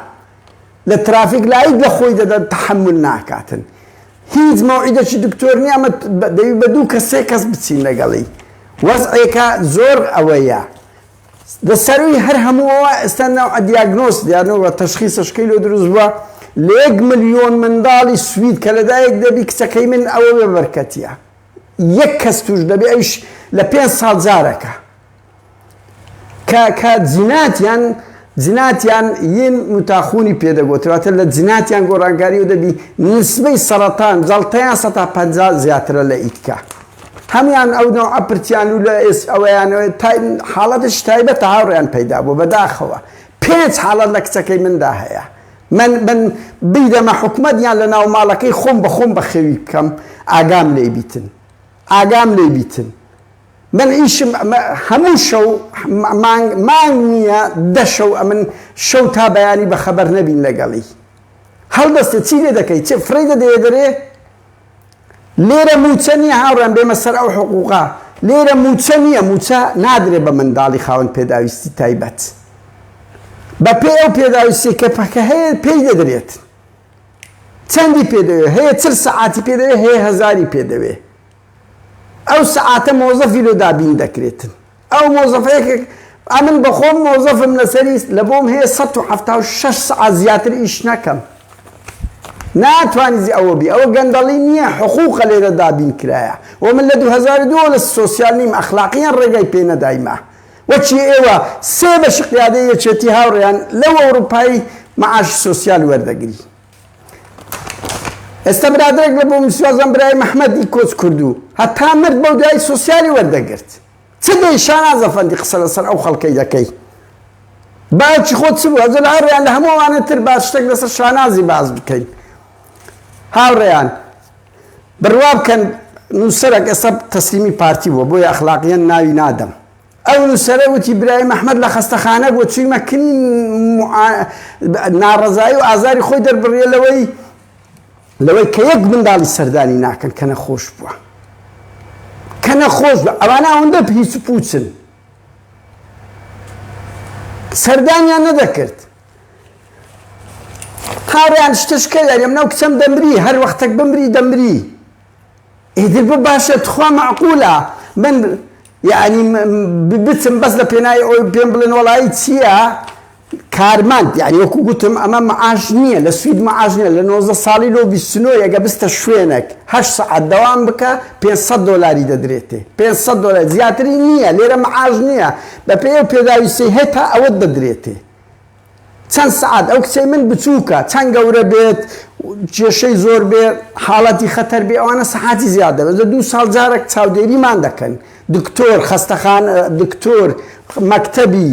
لە ترافیک لایت لە خۆی دەدەن تحمل ناکاتن هیچ مەوعیدەکی دکتۆر نیە ئەمە دەوی بە دوو کە سێ کەس بچین لەگەڵی وەزعێکە زۆر ئەوەیە دە سەروی هەر هەمووەوە ئێستا ناو ئەدیاگنۆس دیانەوە تەشخیسەشکەی لۆ دروست بووە لە یەک ملیۆن منداڵی سوید کە لەدایەک دەبی کچەکەی من ئەوە بەرکەتیە یەک کەس توش دەبێ ئەوش لە پێنج ساڵ جارەکە کە کە جناتیان جناتیان ین متاخونی پێدەگۆتر واتە لە جناتیان گۆڕانکاری و دەبی نسبەی سەرەتان جەڵتەیان سە تا پەنجا زیاترە لە ئیدکە هەمان ئەو نەوعە پرتیان و لە ئێس ئەوەیانەوە تا حاڵەتش تایبەتە هاوڕێیان پەیدا بوو بەداخەوە پێنج حاڵەت لە کچەکەی مندا هەیە من من بیدەمە حکومت یان لە ناو ماڵەکەی خۆم بە خۆم بەخێوی بکەم ئاگام لێ بیتن ئاگام لێ بیتن من ئیشم هەموو شەو مانگ مانگ نییە دە شەو ئەمن شەو تا بەیانی بە خەبەر نەبین لەگەڵی هەڵدەستێ چی لێ دەکەی چ فڕێی دەدەیە دەرێ لێرە مووچە نییە هاوڕێم بێمە سەر ئەو حقووقە لێرە مووچە نییە مووچە نادرێ بە منداڵی خاوەن پێداویستی تایبەت بە پێی ئەو پێداویستی کە پەکە هەیە پێی دەدرێت چەندی پێدەوێ هەیە چل سەعاتی پێدەوێ هەیە هەزاری پێدەوێ ئەو سەعاتە مۆزەفی لۆ دابین دەکرێتن ئەو مۆزەفە یەکێک ئەمن بەخۆم مۆزەفم لەسەری لەبۆم هەیە سەد و حەفتا و شەش سەعات زیاتر ئیش نەکەم ناتوانیزی ئەوە بی ئەوە گەندەڵی نییە حقوقە لێرە دابین کرایە و من لە دوو هەزار و دوو لە سۆسیال نیم ئەخلاقیان ڕێگای پێ نەدایمە وەچی ئێوە سێ بەشی قیادەی یەکێتی هاوڕێیان لەو ئەوروپای معاش سۆسیال وەردەگری ئێستا برادرێک لە بۆ میسوازم برای محمدی کۆچ کردو هەتا مرد بەو دوای سوسیالی وەردەگرت چ دەی شانازە فەندی قسە لەسەر ئەو خەڵکەی دەکەی باوکی خۆت چ بوو ئەزە لە هەڕیان لە هەمووانە تر با شتێک لەسەر شانازی باز بکەین هاوڕێیان بڕوا بکەن نووسەرەک ئێستا تەسلیمی پارتی بووە بۆی ئەخلاقیان ناوی نادەم ئەو نووسەرە وتی برایم ئەحمەد لە خەستەخانە بووە، چوویمە کنین و ناڕەزایی و ئازاری خۆی دەربڕییە لەوەی لەوەی کە یەک منداڵی سەردانی ناکەن کە نەخۆش بووە. کە نەخۆش بە ئەوانە ئەوەندە هیچ و پوچن. سەردانیان نەدەکرد. هاوڕیان شتشکە یاریێم ناو کچەم دەمری هەر وەختێک بمری دەمری. ئیتر بۆ باشە تخوا مەعقولە من یانی بچم بەس لە پێنای ئەوەی پێم بڵێن وەڵایی چییە کارمەند یعنی وەکو گوتم ئەمە معاش نییە لە سوید معاش نیە لە 19 ساڵی لۆ 29 یەگە بستە شوێنێک هە سعات دەوام بکە 500 دلاری دەدرێتێ 500 دلار زیاتری نییە لێرە معاش نییە بە پێ و پێداویستی هەتا ئەوەت دەدرێتێ چەند سەعات ئەو کچەی من بچووکە چەند گەورە بێت کێشەی زۆر بێ حاڵەتی خەتەر بێ ئەوانە سەحاتی زیاد دەبێت لە دوو ساڵ جارێک چاودێریمان دەکەن دکتۆر خەستەخان دکتۆر مەکتەبی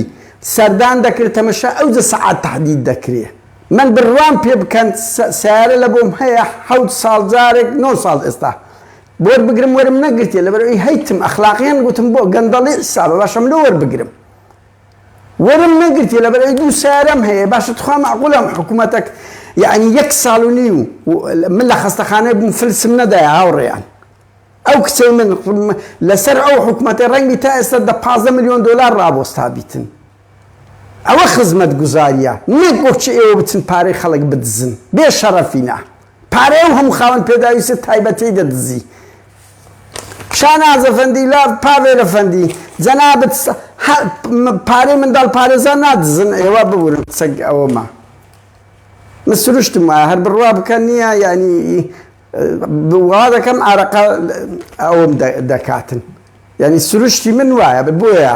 سەردان دەکرێت تەمەشا ئەوجە سەعات تهدید دەکرێت من بڕوام پێ بکەن سیارە لە بۆم هەیە حەوت ساڵ جارێک نۆ ساڵ ئێستا بۆر بگرم وەرم نەگرتێ لەبەرەوەی هەیتم ئەخلاقیان گوتم بۆ گەندەڵی حسابە باشم لۆ وەربگرم وەرم نەگرتیە لەبەر ئەوەی دوو سەیارەم هەیە باشە تخوا مەعقولە ئەم حکومەتەک یەعنی یەک ساڵ و نیو من لە خەستەخانەی بووم فلسم نەدایە هاوڕێیان ئەو کچەی من لەسەر ئەو حکومەتی ڕەنگی تا ئێستا دە پازدە میلیۆن دۆلار ڕابۆستا بیتن ئەوە خزمەت گوزاریە نەک وەکچ ئێوە بچن پارەی خەڵک بدزن بێ شەڕەفینە پارەی ئەو هەموو خاوەن پێداویستە تایبەتەی دەدزی. شاناز ئەفەندی لا پاڤێل ئەفەندی جەنابت پارەی منداڵ پارێزان نادزن ئێوە ببورن قسەگ ئەوەما من سروشتم وایە هەر بڕوا بکەن نییە یعنی وا دەکەم ئارەقا ئەوم دەکاتن یعنی سروشتی من وایە بۆیە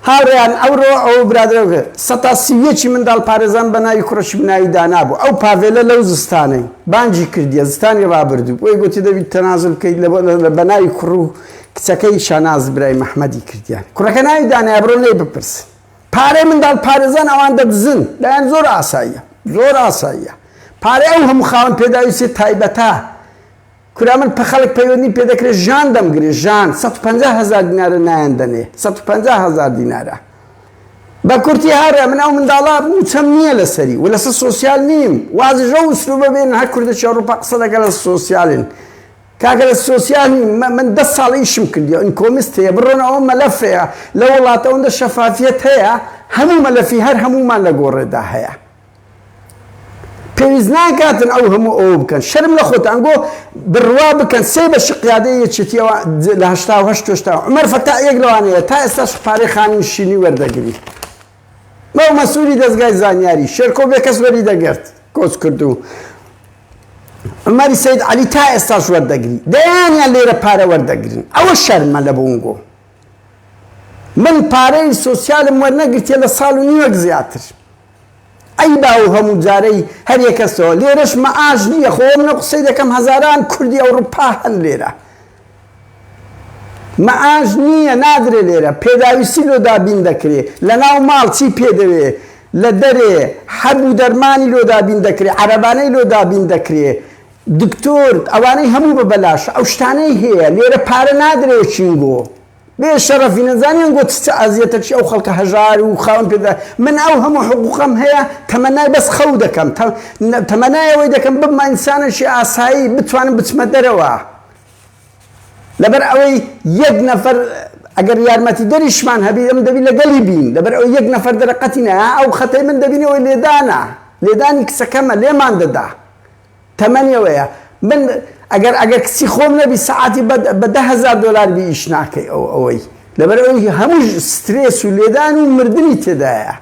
هاوڕێیان ئەوڕۆ ئەو برادەرەوە سەتا سی و یەکی منداڵ پارێزان بە ناوی کوڕەکی بناوی دانا بوو ئەو پاڤێلە لەو زستانەی بانگی کردیە زستانی ڕابردوو بۆی گۆتی دەبی تەنازول بکەیت لە بە ناوی کوڕ و کچەکەی شاناز برای مەحمەدی کردیان کوڕەکە ناوی دانایە بڕۆن لێی بپرسن پارەی منداڵ پارێزان ئەوان دەدزن لایان زۆر ئاساییە زۆر ئاساییە پارەی ئەو هەموو خاوەن پێداویستی تایبەتە کورە من پە خەلک پەیوەندیم پێ دەکرێ ژان دەمگرێ ژان سەد و پەنجا هەزار دینارە نایان دەنێ سەد و پەنجا هەزار دینارە بە کورتی هەرە من ئەو منداڵە موچەم نییە لەسەری و لەسەر سۆسیال نیم وازی ژەو سلوبە بێن هەر کوردە چێڕوپا قسە دەکە لە سۆسیالن کاکە لە سۆسیال نیم من دە ساڵ ئیشم کردیەوە ئینکۆمیست هەیە بڕۆن ئەوە مەلەف هەیە لە وڵاتە ئەوەندە شەفافیەت هەیە هەموو مەلەفی هەر هەمومان لە گۆڕێدا هەیە پێویست ناکاتن ئەو هەموو ئەوە بکەن شەرم لە خۆتان گۆ بڕوا بکەن سێ بە شقیادە یەکێتیەوە لە هەشتا و هەشت تۆشتا عمر فەتا یەک لەوانەیە تا ئێستا شقپارەی خانوو شینی وەردەگری مەو مەسووری دەستگای زانیاری شێرکۆ بێ کەس وەری دەگرت کۆچ کردو عمەری سید علی تا ئێستاش وەردەگری دەیانیان لێرە پارە وەردەگرن ئەوە شەرمە لە بۆنگۆ من پارەی سوسیالم وەرنەگرتێ لە ساڵ و نیوەک زیاتر عەیبە ئەو هەموو جارەی هەر یەکەسەوە لێرەش مەعاش نیە خۆ وە منە قسەی دەکەم هەزاران کوردی ئەوڕپا هەن لێرە مەعاش نیە نادرێ لێرە پێداویستی لۆ دابین دەکرێ لە ناو ماڵ چی پێ دەوێ لە دەرێ حەب و دەرمانی لۆ دابین دەکرێ عەرەبانەی لۆ دابین دەکرێ دکتۆر ئەوانەی هەموو بە بەلاشە ئەو شتانەی هەیە لێرە پارە نادرێ چینگۆ. بێ شەرەفی نەزانیان گۆتی چ ئەزیەتەک چی ئەو خەڵکە هەژار و خاوەن پێدا من ئەو هەموو حقوقەم هەیە تەمەنای بەس خەو دەکەم تەمەنای ئەوەی دەکەم ببمە ئینسانەکی ئاسایی بتوانم بچمە دەرەوە لەبەر ئەوەی یەک نەفەر ئەگەر یارمەتی دەریشمان هەبی ئەم دەبی لەگەڵی بین لەبەر ئەو یەک نەفەر دەرەقەتی نە ئەو خەتەی من دەبینەوەی لێدانە لێدانی کچەکەمە لێمان دەدا تەمەنی ئەوەیە من ئەگەر ئەگەر کچی خۆم نەبی سەعاتی بە بە دە هەزار دۆلار بی ئیش ناکەی ئەو ئەوەی لەبەر ئەوی هەموو سترێس و لێدان و مردنی تێدایە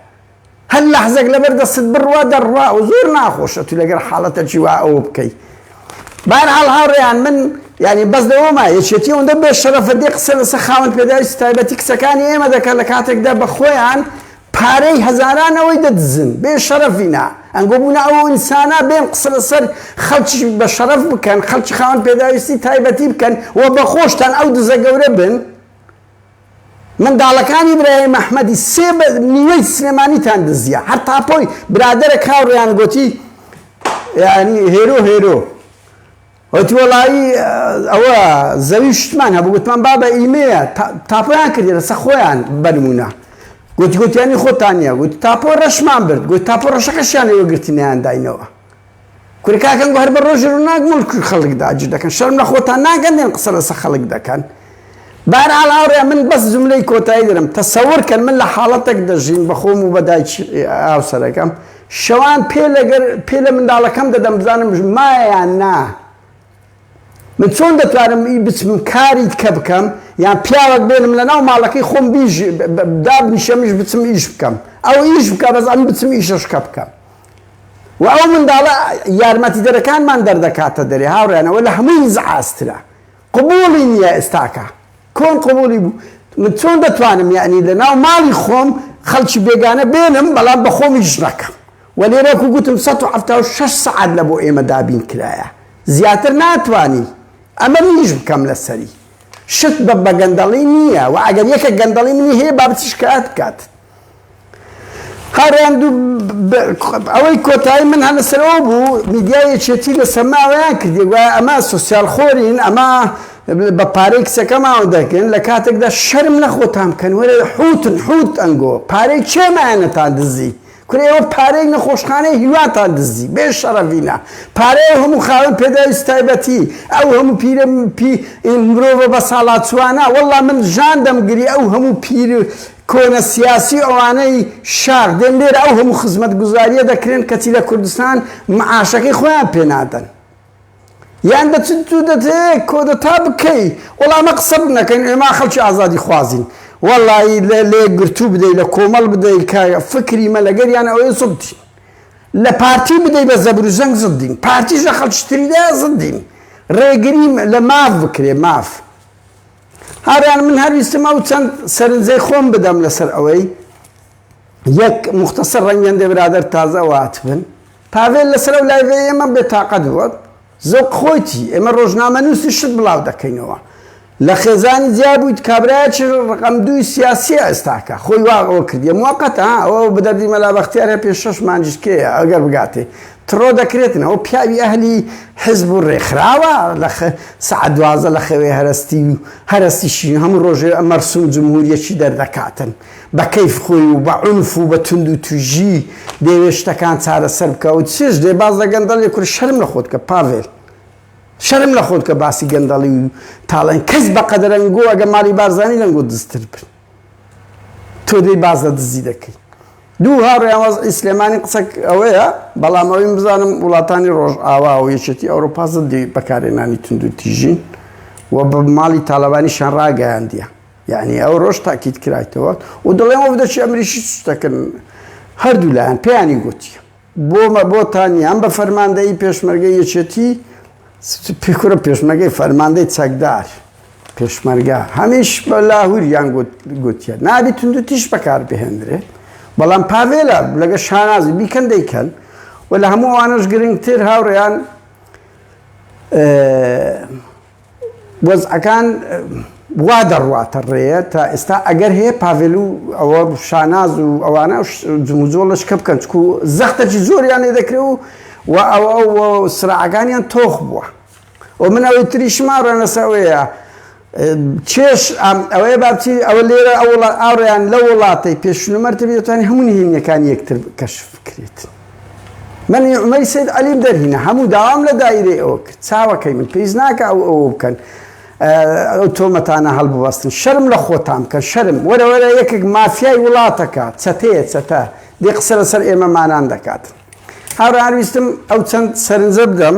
هەر لەحزەک لەبەر دەستت بڕوا دەڕوا و زۆر ناخۆشە تو لەگەر حاڵەتە چی وا ئەوە بکەی بارحاڵ هاوڕێیان من یعنی بەس لەوەما یەکێتی ئەوەندە بێ شەرەفە دێ قسە لەسە خاوەن پێداویستی تایبەتی کچەکانی ئێمە دەکەن لە کاتێکدا بە خۆیان پارەی هەزاران ئەوەی دەدزن بێ شەرەفینە ئەنگۆ بونە ئەوو ئینسانە بێن قسە لەسەر خەلکی بە شەرەف بکەن خەلکی خاوەن پێداویستی تایبەتی بکەن و بە خۆشتان ئەو دزە گەورە بن منداڵەکانی برای محمدی سێ بە نیوەی سلێمانیتان دزیە هەر تاپۆی برادەرە کاوڕیان گۆتی یعنی هێرۆ هێرۆ وتی وەڵایی ئەوە زەوی شتمان هەبوو گوتمان بابە ئیمەیە تاپۆیان کردی لەسە خۆیان بەنمونە گوتی گوتیانی خۆتان نیە گوت تاپۆ ڕەشمان برد گوت تاپۆ ڕەشەکەشیان لەوە گرتنیان داینەوە کورکاکەن گوهر بە ڕۆژ ڕووناک مڵک خەڵکدا ئاجر دەکەن شەرم لە خۆتان ناگەن دێن قسە لەسە خەڵک دەکەن بەهەرحاڵ هاوڕێیان من بەس جوملەی کۆتایی دەرم تەسەور کەن من لە حاڵەتەک دەژیم بە خۆم و بە دایکی هاوسەرەکەم شەوان پێ لەگەر پێ لە منداڵەکەم دەدەم بزانم مایە یان نا من چۆن دەتوانم ئی بچم کاری کە بکەم یان پیاوەک بێنم لە ناو ماڵەکەی خۆم بیژ دابنیشەمیش بچم ئیش بکەم ئەو ئیش بکە بەس ئەم بچم ئیشەش کە بکەم و ئەو منداڵە یارمەتیدەرەکانمان دەردەکاتە دەرێ هاوڕێیانەوە لە هەمووی زعاسترە قبوڵی نیە ئێستاکە کۆن قبوڵی بوو من چۆن دەتوانم یەعنی لەناو ماڵی خۆم خەڵکی بێگانە بێنم بەڵام بەخۆمیش نەکەم وە لێرە وەکو گوتم سەد و حەفتا و شەش سەعات لە بۆ ئێمە دابین کرایە زیاتر ناتوانی ئەمە منیش بکەم لەسەری شت بە بەگەندەڵی نیە وە ئەگەر یەکێک گەندەڵی منی هەیە با بچی شکایەت بکات. هاڕاندوو ئەوەی کۆتایی من هەلەسەر ئەوە بوو میدیای یەکێتی لە سەما ئەوەیان کردی گوایە ئەمە سوسیال خۆرین ئەمە بە پارەی کچەکەماوە دەکەن لە کاتێکدا شەرم لە خۆتان بکەن وەرە حوتن حوت ئەنگۆ پارەی کێمانەتان دزی کورە ئێوە پارەی نەخۆشخانەی هیواتان دزی بێ شەڕەڤینە پارەی ئەو هەموو خاوەن پێداویست تایبەتی ئەو هەموو پیرە پی مرۆڤە بەساڵاچوانە وەڵڵا من ژان دەمگری ئەو هەموو پیر کۆنە سیاسی ئەوانەی شاخ دێن لێرە ئەو هەموو خزمەتگوزاریە دەکرێن کەچی لە کوردستان معاشەکەی خۆیان پێ نادەن یان دە چ تو دەتەیەک کۆدەتا بکەی وەڵا ئەمە قسە بنەکەن ئێمە خەڵکی ئازادی خوازین وەڵایی لە لێک گرتوو بدەی لە کۆمەڵ بدەی کە فکری مە لەگەریان ئەوەی زدین لە پارتی بدەی بە زەبر و زەنگ زدین پارتیش لە خەڵکی تریدا زدین ڕێگریم لە ماف بکرێ ماف هاوڕێیان من هەر ویستم ئەو چەند سەرنجەی خۆم بدەم لەسەر ئەوەی یەک مختصر ڕەنگەندێ برادر تازە واتبن پاڤێل لەسەر ئەو لایڤێ ئێمە بێتاقەت بووە زۆق خۆیتی ئێمە ڕۆژنامە نووسی شت بڵاو دەکەینەوە لە خێزانی جیا بوویت کابراایچ ڕقم دووی سیاسی ئێستاکە خۆی واغەوە کردی موقت ئەوە بدەردی مەلا بەختیارە پێ شش مانجشکەیە ئەگەر بگاتێ تڕۆ دەکرێتن ئەوە پیاوی ئەهلی حزب و ڕێکخراوە لە سەعات دوازدە لە خەوێ هەرەستی و هەرەستیشی هەموو ڕۆژێ مەرسوم جمهوریەکی دەردەکاتن بە کەیف خۆی و بە عنف و بە توند و توژی دەیەوێت شتەکان چارەسەر بکە و چێش دێ باز لە گەندەڵی کورد شەرم لە خۆت کە پاڤێل شەرم لە خۆت کە باسی گەندەڵی و تاڵێن کەس بەقەدەرەنگۆ ئەگە ماڵی بارزانی لەنگۆ دزتر بن تۆ دەی باس لە دزی دەکەی دوو هاوڕێیان وەزعی سلێمانی قسە ئەوەیە بەڵام ئەوەی بزانم وڵاتانی ڕۆژئاوا و یەکێتی ئەوروپا زدی بەکارێنانی تونند و تیژین و بە ماڵی تاالبانی شان ڕاگەیاندە یعنی ئەو ڕۆژ تاکیت کرایتەوە و دەڵێن وە دەچی ئەمریشی سوستەکردن هەردوو لایەن پێیانی گوتی بۆمە بۆتان یان بە فەرماندەیی پێشمەرگەی یەکێتی سپی کورە پێشمەرگەی فەرماندەی چەکدار پێشمەرگە هەمیش بە لاهوریان گوتیە نابی تونند و تیش بەکار بهێندرێت بەڵام پاڤێلا لەگە شانازی بیکەن دەیکەن و لە هەموو ئەوانەش گرنگتر هاوڕێیان وەزعەکان وا دەڕواتە ڕێ تا ئێستا ئەگەر هەیە پاڤێل و ئەوە شاناز و ئەوانە جموجۆڵ لە شکە بکەن چکو زەختەکی زۆریان لێ دەکرێ و و ئەوە سراعەکانیان تۆخ بووە و من ئەوەی تری شماڕەنەسەوەیە چێش ئەوەیە باچی ئەوە لێرە ئەوڵ ئاڕیان لە وڵاتی پێشنومەرتبێتانی هەمون هێنیەکان یەکتر کەشف بکرێت. من نعمەی سید عەلیم دەرهینا هەموو داوام لە دایرەی ئەوە کرد چاوەکەی من پێیز ناکە ئەو ئەوە بکەن ئەو تۆمەتانە هەڵبوەستن شەرم لە خۆتان بکەن شەرم وەرەوەرە یەکێک مافیای وڵاتەکە چەتەیە چەتە دێ قسە لەسەر ئێمەمانان دەکات هاوراویستم ئەو چەند سەرنجە بدەم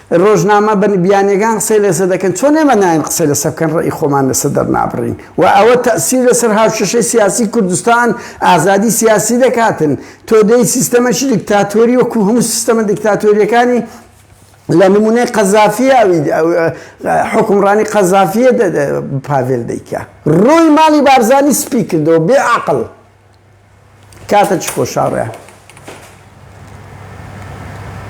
ڕۆژنامە بە بیانیەکان قسەی لەسەر دەکەن چۆن ئێمە نایەین قسەی لەسەر بکەن ڕێی خۆمان لەسەر دەرنابڕین و ئەوە تەئسیر لەسەر هاوکێشەی سیاسی کوردستان ئازادی سیاسی دەکاتن تۆ دەی سیستەمەکی دیکتاتۆری وەکو هەموو سیستەمە دیکتاتۆریەکانی لە نمونەی قەزافی حکومڕانی قەزافیە پاڤێل دەیکە ڕووی ماڵی بارزانی سپی کردەوە بێ عقل کاتە چ خۆشاڕێ